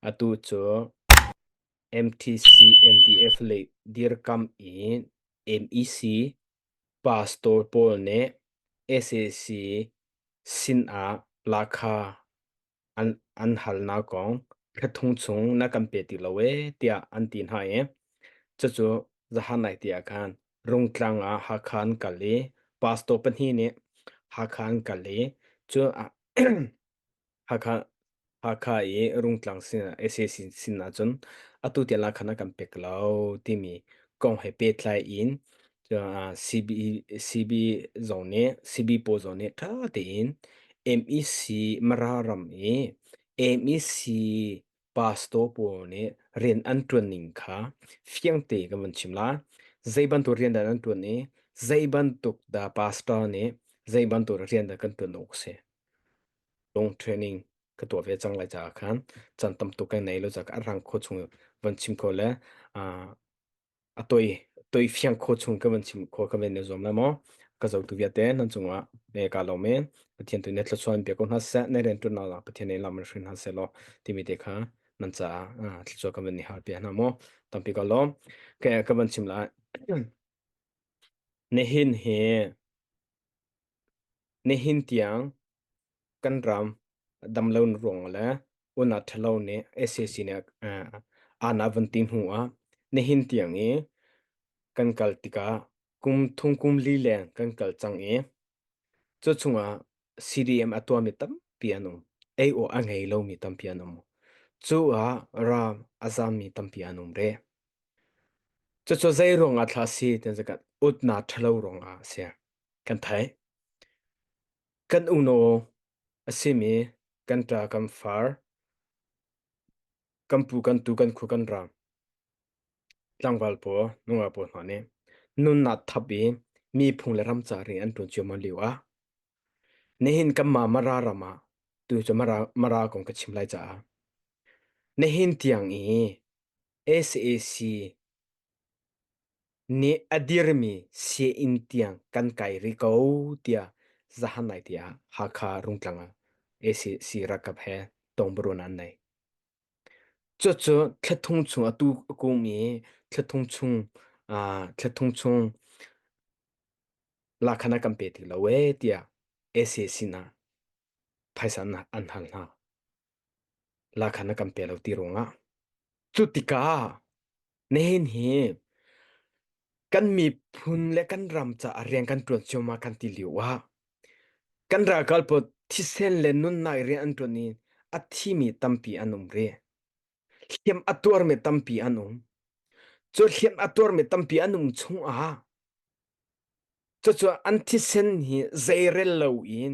Atu cu MTC MDF lei dirkamh i MEC pastor pawl nih SAC sinah la kha an halnak kong thla thum chung na kan pe ti lo ee tiah an ti hna i cucu zahan lai te ah khan Rungtlang ah Hakha an kal i pastor pahnih nih Hakha an kal i cu Hakha Hakha i Rungtlang sin SA sin, sin ah cun atu tiang la khan a kan pek lo timi kong he pehtlai in uh, CB, CB zong nih CBPO zong nih ṭha tein MEC Mara ram i MEC pastor pawl nih rian an ṭuan ning kha fiangte kan van chim lai. Zei bantuk rian dah nan ṭuan i, zei bantuk dah pastor nih zei bantuk rian dah kan ṭuan awk a si. Lung training ka tuah ve cang lai caah khan can tam tuk kan nei lo caah ka arrang kho chung van chim ko le ah a toi toi fiang kho chung ka van chim kho ka van ne zuam la mo ka zo tu viate nan chunga ne ka lo men pathian tu ne thlachuan pe ko hna se ne ren tu na la pathian ne lam rin hna se lo ti mi te kha nan cha a thlachuan ka van ni har pe hna mo tampi ko lo ke ka van chim la ne hin he ne hin tiang kan ram damlo ruang le una thalo ni SAC ne ana van ti mu a ne hin tiang i kan kal tika kum thung kum li le kan kal chang i cho chunga CDM atua mi tampi anum AO angei lo mi tampi anum chu a ra azam mi tampi anum re cho cho zai ruang a thla si ten zakat utna thalo ruang a sia kan thai Kan unaw a simi kan ṭa kan far, kan pu kan tu kan khu kan raang. Tlangval paw nungak paw hna nih nunnak thap i miphung le ramca ri an ṭun cio ma liu ah. Nihin kan ma mara ram ah tu cu mara mara kong ka chim lai caah. Nihin tiang i SAC nih a dirmi sianginn tiang kan kai rih ko tiah zahan lai tiah Hakha Rungtlang ah ACC ralkap he tongbaruan an nei. Cucu thlatthung chung a tu a kum i thlatthung chung ah thlatthung chung lakhan ah kan pe ti lo ee tiah ACC na phaisa an hal hna. lakhan na kan pe lo ti ruangah cu tikah nihin hi kan miphun le kan ram caah rian kan ṭuan ciammam kan ti lio ah kan ralkal pawl thisen le nunnak i rian an ṭuan i a thimi tampi an um rih hliam a tuarmi tampi an um cu hliam a tuarmi tampi an um chung ah cucu an thisen hi zeirel lo in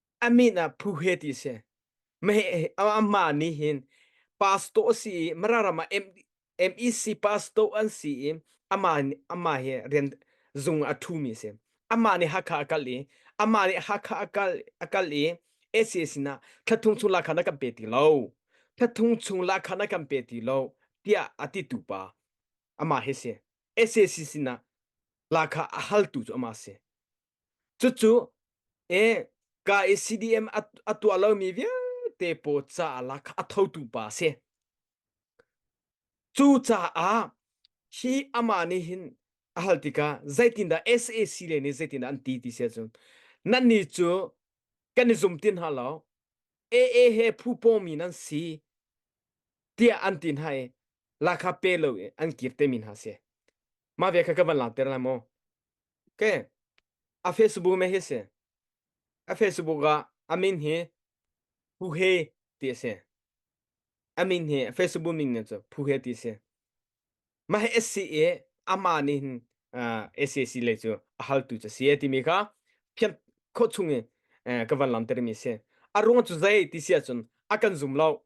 a min ah Phu He ti si. Meheh amah nih hin pastor a si i Mararam ah M, MEC pastor an si i amah amah hi rian zung a ṭhumi a si. Amah nih Hakha a kal i amah nih Hakha a kal a kal i SCA sinah thla chung lakhan a kan pe ti lo. Thla chung lakhan a kan pe ti lo tiah a titu pa amah hi si. SCC sinah lakha a haltu cu amah si. Cucu e ka i CDM a, a tuah lomi vialte pawl caah kha a thotu pa a si. Cucaah hi amah nih hin a hal tikah zeitindah SAC le nih zeitindah an ti ti si ahcun nannih cu kan i zum ti hna lo AA he phu pawmi nan si tiah an ti hna i lakha pe lo i an kir te mi hna si. Mah ve kha ka van langhter lai maw? Okay. A Facebook me hi si. A Facebook ah a min hi Pu He ti a si. A min hi Facebook min nih cu Pu He ti a si. Ma hi SC i amah nih hin uh, SAC le cu a haltu cu si timi kha phian kho chung i eh, ka van lam termi si. A ruang cu zei ti sia cun a kan zum lo.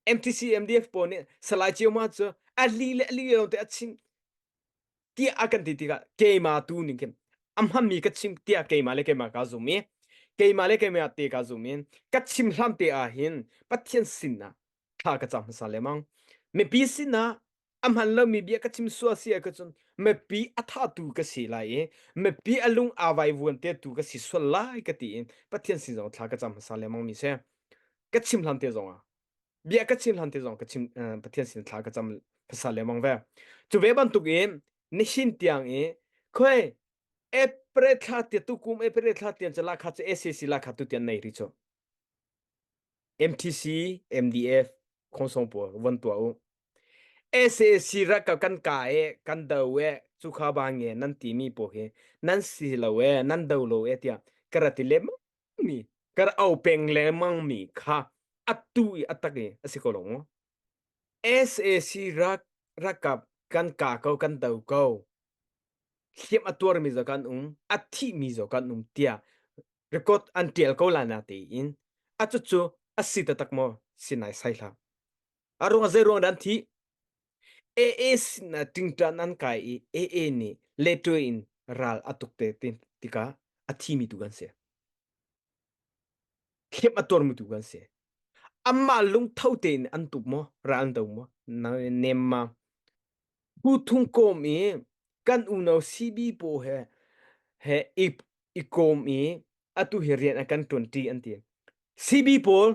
MTC MDF pawl nih salai cio ma cu a li le a li lo te a chim tiah a kan ti tikah keimah tu ning khin a hmanmi ka chim tiah keimah le keimah kaa zum i keimah le keimah te kaa zum i ka chim hlam te ah hin Pathian sinah thla ka cam hmasa lemang mipi sinah a hman lomi bia ka chim sual si ah cun mipi a thatu ka si lai i mipi a lung aa vaivuan tetu ka si sual lai ka ti in Pathian sin zong thla ka cam hmasa lemang mi si ka chim hlam te zong ah bia ka chim hlan te zong ka chim uh, pathian sin thla ka cham phasa le mang ve chu ve ban tuk i nishin tiang i khoi april thla tia tu kum april thla tian chala kha che SAC la kha tu tian nei ri chu MTC MDF khonsong po von tua u SAC ra ka kan ka e kan do e chu kha ba nge nan ti mi po hi nan si lo e nan do lo e tia karati le mi kan au peng lengmang mi kha atu i atak i asi ko lo mu sac rak rakap kan ka ko kan do ko hliam a tuar mi zo kan um a thi mi zo kan um tia record an tial ko la na te in acu cu asi ta tak mo sinai sai hla arung a zei ruang dan thi AA sinah tingṭan an kai i AA nih leṭo in ral a tuk te tikah a thimi tu kan si. Khep a tuarmi tu kan si. Amah lungtho tein an tuk maw, ra an do maw, nem ma. Pu thung kom i kan uno CB po he he i i kom i atu hi rian a kan ṭuanṭi an ti. CB pawl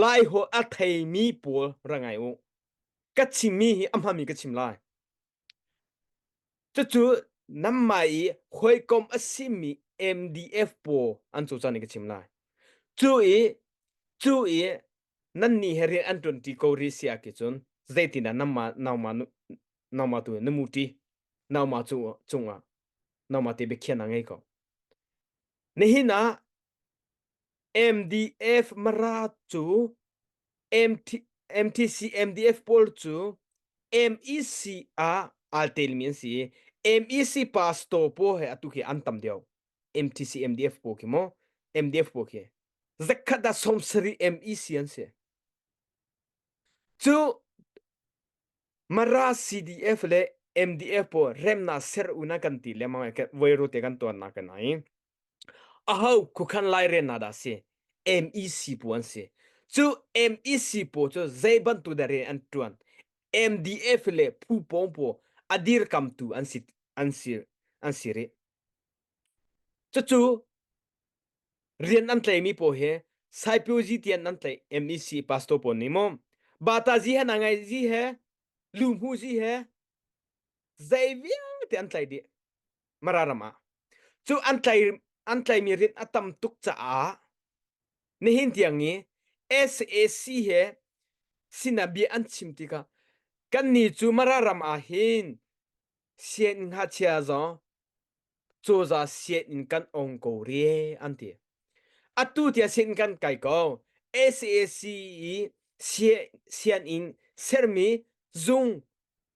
lai ho a theimi pawl ra ngai u. ka chimmi hi a hmami ka chim lai. Cucu nanmah i hawikom a simi MDF pawl an cawcan i ka chim lai. Cu i cu i nannih he rian an ṭuanṭi ko rih si ah cun zeitindah nanmah nangmah nu nangmah tu na muṭi nangmah cung cungah nangmah te biakhiahnak ngei ko. Nihin ah MDF Marat cu MT, MTC MDF pawl cu MEC ah aa telmi an si i MEC pastor pawl he atu khi an tam deuh MTC MDF pawl khi maw MDF pawl khi zakhat ah sawmsarih MEC an si cu Mara CDF le MDF pawl remnak ser una kan ti lengmang i voiru te kan tuannak kan ai aho khuakhan lairel hna dah a si MEC pawl an si cu MEC pawl cu zei bantuk deh rian an ṭuan MDF le phu pawng pawl a dirkamtu an si an si an si rih cucu rian an tleimi pawl hi Saipuji tiah nan tlei MEC pastor pawl nih maw Bataji he Nangaiji he Luhmuji he zei vialte an tlei dih Mara ram ah cu an tlai an tlaimi rit a tam tuk caah nihin tiang i SAC he sinabia an chim tikah kannih cu Mara ram ah hin sian ngachia zong coza sian in kan ong ko re an ti atu tia sin kan kai ko SAC i sian in sermi zung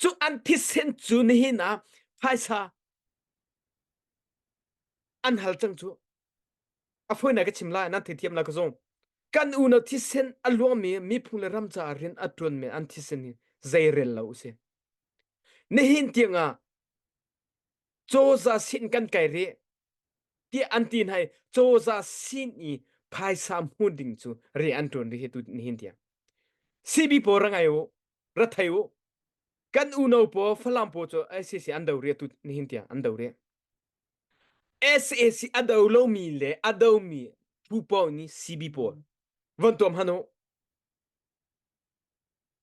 Cu an thisen cu nihin ah phaisa an hal cang cu. A fawi ka chim lai, nan theithiam lai ka zung. Kan unau thisen a luangmi miphung le ram caah rian a ṭuanmi an thisen hi zei rel lo u si. Nihin tiang ah cozah sin kan kai rih tiah an ti hna i cozah sin i phaisa hmun ding cu rian an ṭuan rih hi tu nihin tiang. CB pawl ra ngai u. Rathei u. Kan uno paw Falam paw cu SAC an do ri tu nihin tiang an do ri. SAC a do lomi le a domi phu pawl nih CB pawl von tuam hanu.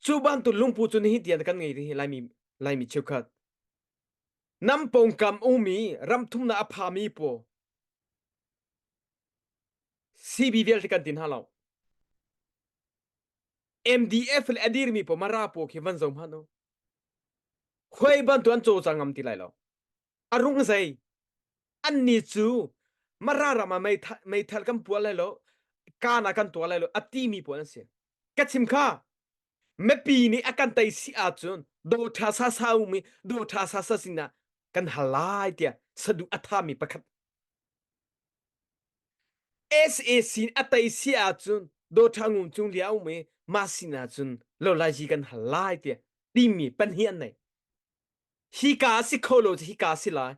Cu bantuk lungpu cu nihin tiang kan ngei rih laimi laimi cheukhat. Nam pongkam umi ramthumna a phami paw CB vialte kan tin hna lo. MDF le a dirmi pa mara paw khi van zong hman u khoi bantuan cho ca ngam ti lai lo a rung zei an ni cu mara rama meithal kan pual lai lo kana kan tua lai lo a ti mi pawl an si ka chim kha mepi nih a kan tei si a cun do tha sa sa u mi do tha sa sa sina kan halai tia sadu atha mi pakhat sac a tei si ahcun dawtha ngun cung li a um i ma sin ahcun lo lai hi kan hal lai tiah timi pahnih an nei hi ka a si kho lo cu hi ka a si lai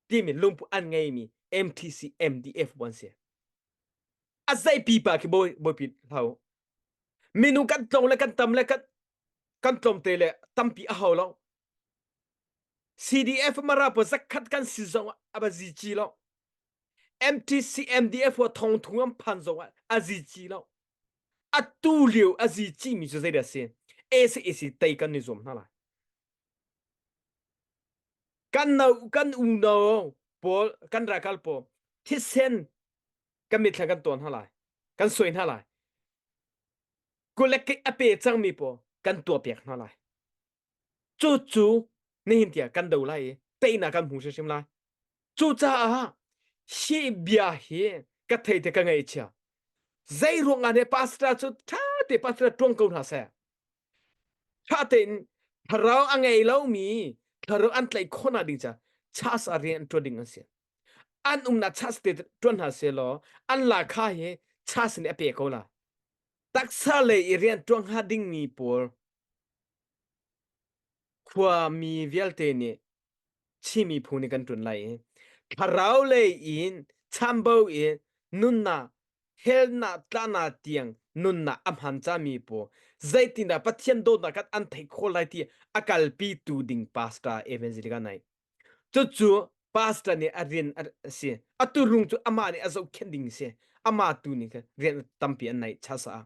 timi lungpu an ngeimi mtc mdf an si a zei pipa khi bawi bawipin hlau minu kan tlong le kan tam le kan kan tlom te le tampi a hau lo cdf mara po zakhat kan si zong a ba zi ci lo MTC MDF wa thong thung an phan zong ah a zi chi lo a tu liu a zi chi mi cu zei da si AC AC tei kan ni zuam hna lai kan no kan u no paul kan rakal po thisen kan mit kan ton hna lai kan soi hna lai kulek ke ape chang mi po kan tua pek hna lai Cu cu nihin tiah kan do lai i teinak kan hmu hrimhrim lai. Cucaah hi bia hi ka thei te ka ngaihchia. Zei ruangah ne pastor cu ṭha te pastor ṭuang ko hna seh. Ṭha tein thlarau a ngei lomi thlarau an tlaih khawhnak ding caah chas a rian ṭuan ding an si. An umnak chas te ṭuan hna sehlaw an lakha hi chas nih a pe ko la. Taksa lei i rian ṭuan hnga dingmi pawl Khuami vialte nih Chinmi phu nih kan ṭun lai i thlarau lei in chambo in nunnak helnak tlanak tiang nunnak a hman cami pawl zeitindah Pathian dawtnak khan an theih khawh lai ti a kalpitu ding pastor Evangelika naih. Cucu pastor nih a rian a a si. A tuurung cu amah nih a zohkhenh ding a si. Amah tu nih khan rian tampi an naih chasa.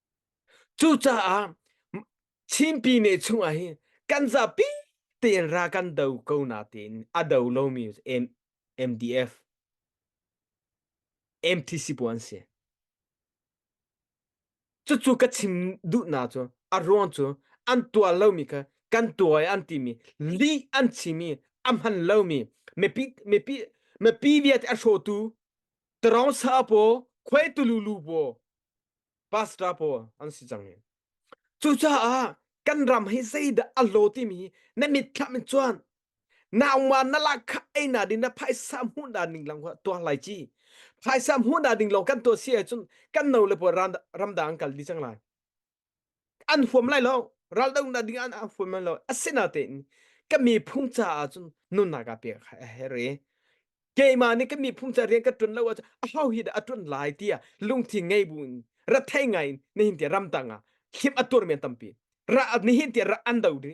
Cucaah Chinpi ne chungah hin kan zapi tein ra kan do ko na tiin a do lomi MDF MTC puan an si. Cucu ka chim duhnak cu a ruang cu an tuar lomi kha kan tuar an timi lih an chimi a hman lomi mipi mipi mipi vialte a hrawtu Terong Sa paw Khoi Tululu paw pastor pawl an si cang i cucaah kan ram hi zeidah a lo timi na mitthlam in cuan nauma na la kha ei na ding na phaisa hmuh na ding lang tuang lai chi phaisa hmuh na ding lo kan tuah si ahcun kan no le puan ramdang an kal dih cang lai an huam lai lo ral dang da ding an an huam lai lo asina tein ka mi phung ca ah cun nunna ka pe kha he re keima nih ka mi phung ca rian ka tun lo ah a hau hi da a tun lai tia lungthin ngei bu in ra thei ngai in ne hin ti ram tanga hip atur men tampi ra ni hin ti ra an do di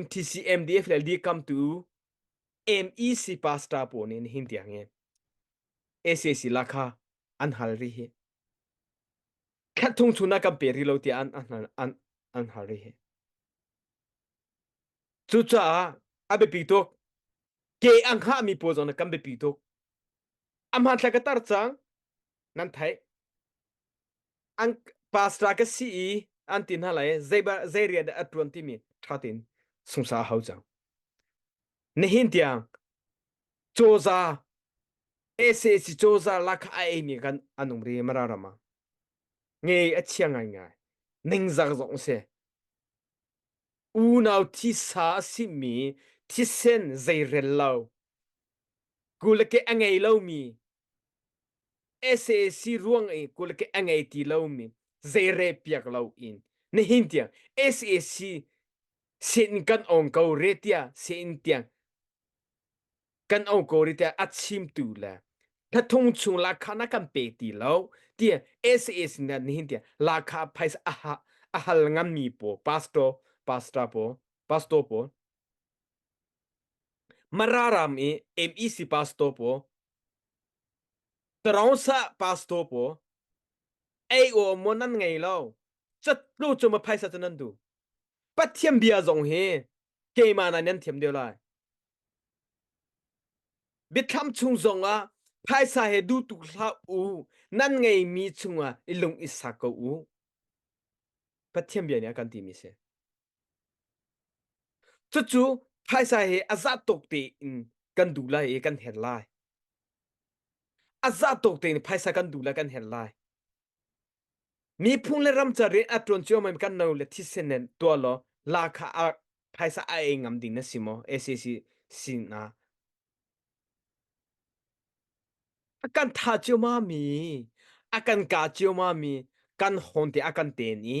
MTC MDF le li kam tu MEC pastor pawl nih hin tiang in SAC la kha an hal ri hi khat thung chu na kan pe ri lo tiah an an an an hal ri hi cucaah a biapi tuk ke ang ha mi pawl zong kan biapi tuk amhan thlai ka tar cang nan thai an pastor ka si i an ti hna lai zei ba zei ria dah a tuan timi tha tin sungsa hau cang nihin tiang cawza SAC cawza lakha a ei mi kan anum ri mara rama nge a chia ngai ngai ningzak zong se unau thisa a si mi thisen zei rel lo kul ke angei lo mi SAC ruang i kul ke a ngei ti lomi zeire piak lo in nihin tiang SAC sin kan ong ko re tia sin tiang kan ong ko re tia a chimtu le thathung chung la kha na kan pe ti lo tia SAC na nihin tiang la kha phais a ha a hal ngam mi po pastor pastor po pastor po Mararam i MEC pastor paw, Tarosa pastor paw, ei o mo nan ngei lo. Chatlu cu ma phaisa cu nan du. Pathian bia zong hi keima nan nan thiam deuh lai. Biathlam chung zong ah phaisa he du tuk hlah u nan ngei mi chung ah i lung i sak ko u. Pathian bia nih a kan ti mi si. Cucu phaisa he a zah tuk tein kan duh lai i kan hen lai. A zah tuk tein phaisa kan duh lai kan hen lai. Miphun le ram ca rian a tuan cio mai kan no le thisen nen tua law la kha a phaisa a ei ngam ding na si maw SAC sin ah a kan tha cio ma mi a kan ka cio ma mi kan hon te a kan ten i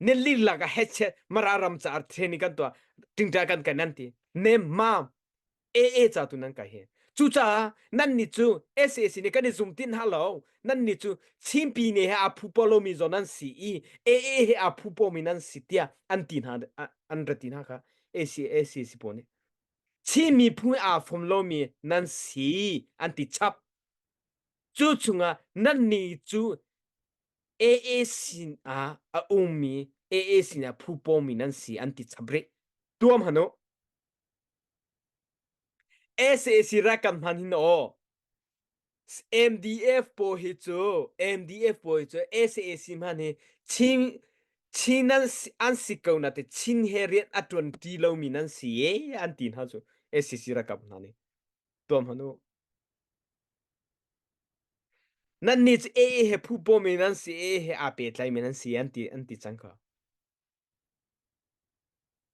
ne lin la ka heche mara ram cha ar theni kan to tingta kan kan nan ti ne ma e e cha tu nan ka he chu cha nan ni chu SAC ne kan ni zum tin ha lo nan ni chu chimpi ne ha aphu polo mi zo nan si i e e he aphu po mi nan si tia an tin ha an ratin ha ka AC AC si po ni chi mi phu a phom lo mi nan si an ti chap chu chunga nan ni chu AA sin ah a ummi AA sin ah phu pawmi nan si an ti chap rih. Tuam hanu. SAC rakam hman hin o. MDF po hi cu MDF po hi cu SAC hman hi Chin Chin nan si- an si ko na te Chin he rian a tuan ti lomi nan si ye an ti hna cu SAC rakam hna nih. Tuam hanu. Nannih cu ee he phupaw men an si, ee he aa petlai men an si an ti an ti cang ka.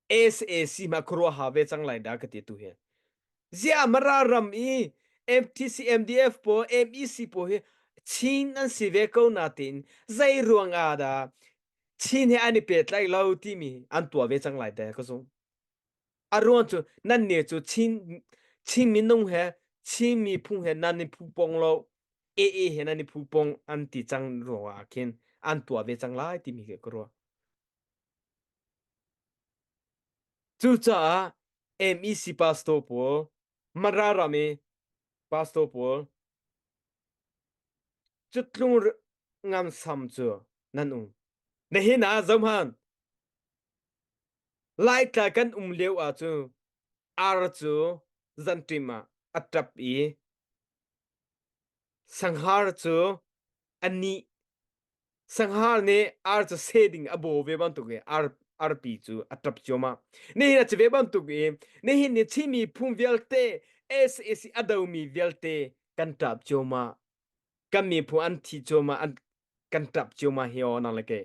Es AC ma khuaruah ha ve cang lai da ka ti tu hi. Zia mara ram i MTC MDF po MEC po hi Chin an si ve ko na tin zai ruang a da Chin he an i petlai lo ti mi an tua ve cang lai da ka zung. aruang cu nan ne cu chin chin minung he chin miphung he nan ni phu pong lo e e he nan ni phu pong an ti cang ruangah ah khin an tua ve cang lai timi ke ka ruah cucaah MEC pastor pawl mara ram i pastor pawl cutlung ngam sam cu nan um na hin ah zohman Laitla kan um lio ah cu ar cu zanṭim ah a ṭap i sanghar cu a nih. Sanghar nih ar cu se ding a baw ve bantuk i ar arpi cu a ṭap cuahmah. Nihin a si ve bantuk i nihin ni Chinmi phung vialte SAC a domi vialte kan ṭap cuahmah. Kan miphun an thi cuahmah, an kan ṭap cuahmah hi aw nang le kei.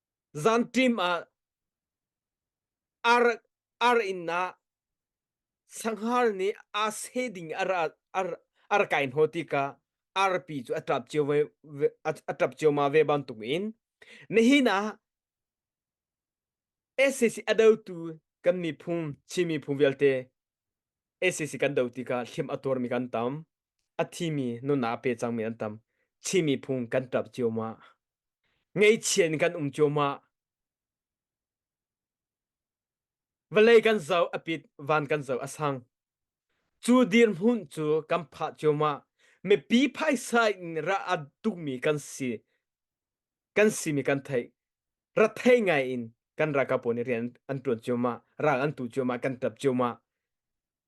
Zanṭim ah ar, ar inn ah sanghar nih aa seh ding a ra ar, ar kai hnaw tikah arpi cu a ṭap cio ve, ve a ṭap cioma ve bantuk in nihin ah SAC a dotu kan miphung Chin miphung vialte SAC kan do tikah hlim a tuarmi kan tam. a thimi nunah pe cangmi an tam chimi phung kan ṭap ciomah ngeihchiah in kan um ciomah vawlei kan zo a pit van kan zo a sang cu dirhmun cu kan phah ciomah mipi phaisa in ra a tukmi kan si kan simi kan theih ra thei ngai in kan ralkap pawl nih rian an ṭuan ciomah ral an tu ciomah kan ṭap ciomah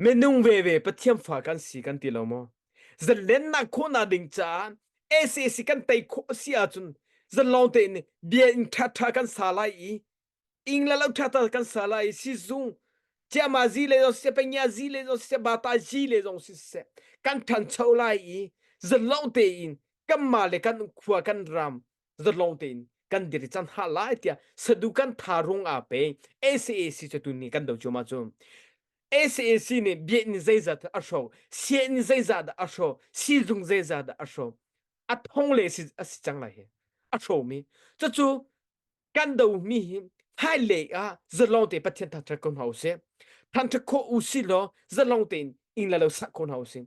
Minung veve Pathian fa kan si kan ti lo maw? Zalennak khawhnak ding caan SAC kan tei khawh a si ahcun zanlawng tein bia in ṭhaṭha kan sa lai i ing le lo ṭhaṭha kan sa lai i sizung ciama zi le zong siseh pengia zi le zong siseh bata zi le zong siseh kan ṭhancho lai i zanlawng tein kanmah le kan khua kan ram zatlawng tein kan dir i can ha lai tiah sadu kan tha rung a pe SAC cu tun ni kan do chuma cu SAC nih bia in zeiza dah a hro sia in zeiza dah a hro sizung zeiza dah a hro a thong le si a si cang lai hi a hro mi cucu kan do mi hi hai le a zatlawng te pathian thak ko hna u se thang thak kho u si law zatlawng tein in la lo sak ko hna u si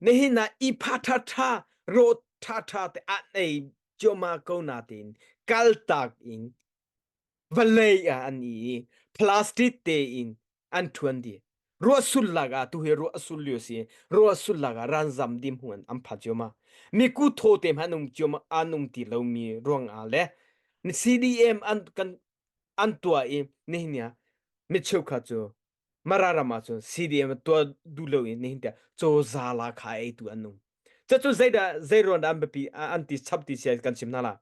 Nihin ah ihpha ṭhaṭha, rawt ṭhaṭha te ah nei cuahmah ko nain kaltak in vawlei ah an i plastic tein an ṭhuan dih. Ruah sulak ah tu hi ruah a sul lio si. Ruah sulak ah ranzam dim huan an pha cuahmah. Mi ku thaw te hmanh um cuahmah an um ti lomi ruangah le CDM an kan an tuah i nihin ah mi cheukhat cu Mara ram ah cun CDM tuah duh lo in nihin tiang cozah la kha ei tu an nung. Cucu zeidah zeiruan an biapi an ti chap ti sia kan chim hna la.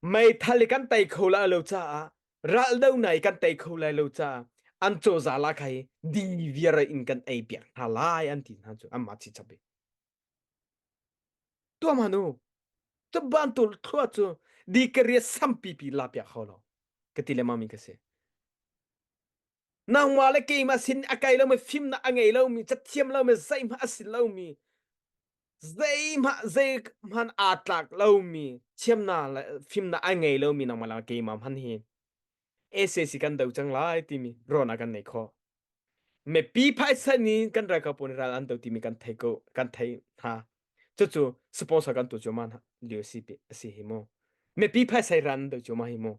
Meithal i kan tei kho la lo caah raldo na i kan tei kho lai lo caah an cozah la kha hi dingviar in kan ei piak hna lai an ti hna cu anmah chi chap i. Tuahman u, cu bantuk thlua cu di ka riat sampi pi la piak hau lo ka ti le mami ka si. Nangmah le keimah sin a kai lomi fimnak a ngei lomi cathiam lomi zeihmah a si lomi zeihmah zeihmanh aa tlak lomi thiamnak le fimnak ai ngei lomi nangmah le keimah hman hi SAC kan do cang lai timi ruahnak kan nei kho. Mipi phaisa nih kan ralkap pawl nih ral an do timi kan thei ko kan thei hna. Cucu sponsor kan tu cuma lio si pi asi hi mu. Mipi phaisa i ran do cuma hi mu.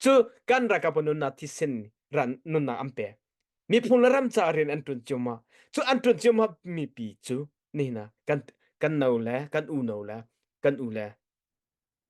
Cu kan ralkap pawl nunna thisen ran nunna an pe. Miphung le ram ca rian an tun cuma. Cu an tun cuma mipi cu nihna kan kan no le kan u no le kan u le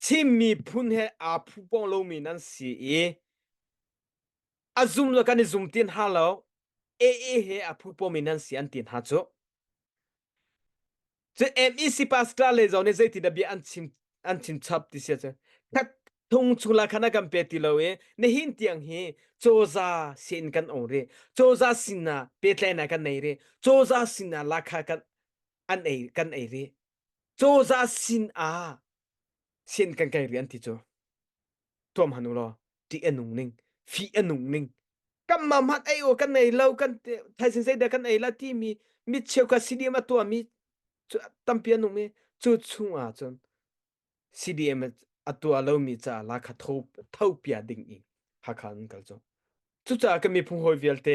Chin miphun he aa phu pawng lomi nan si i a zum le kan i zum ti hna lo. AA he a phu pawmi nan si an ti hna cu. Cu MEC pastor le zong nih zeitin bia an chim an chin chap ti sia cu. Thak thung chung la khan a kan pe ti lo i nihin tiang hi coza sin kan ong ri. Coza sin ah petlai na kan nei ri. Coza sin ah lakha kan an ei kan ei ri. Cozah sin ah sen kan kai rian ti cu tuam han u law ṭih a nung ning fih a nung ning kan mamhat ei u kan ei lo kan thaisin zei dah kan ei la timi mi cheukhat CDM a tuami cu tampi an um i cu chung ah cun CDM a tua lomi caah la kha thopia ding i Hakha an kal cu cucaah kan miphung hawi vialte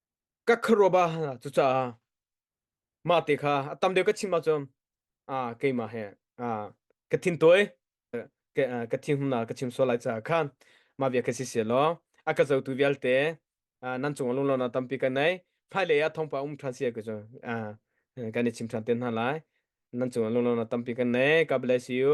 ka khuaruah ba cucaah mahte kha a tam deuh ka chim ahcun a keimah he a ka thin tawi ka a, ka thin humna ka chim sual lai caah khan mah via ka si sia law a ka zotu vialte a, nan cung lung lona tampi kan nei hmailei ah thawngpa um ṭhan sia ka cu a, kan i chim ṭhan te hna lai nan cung lung lona tampi kan nei God bless you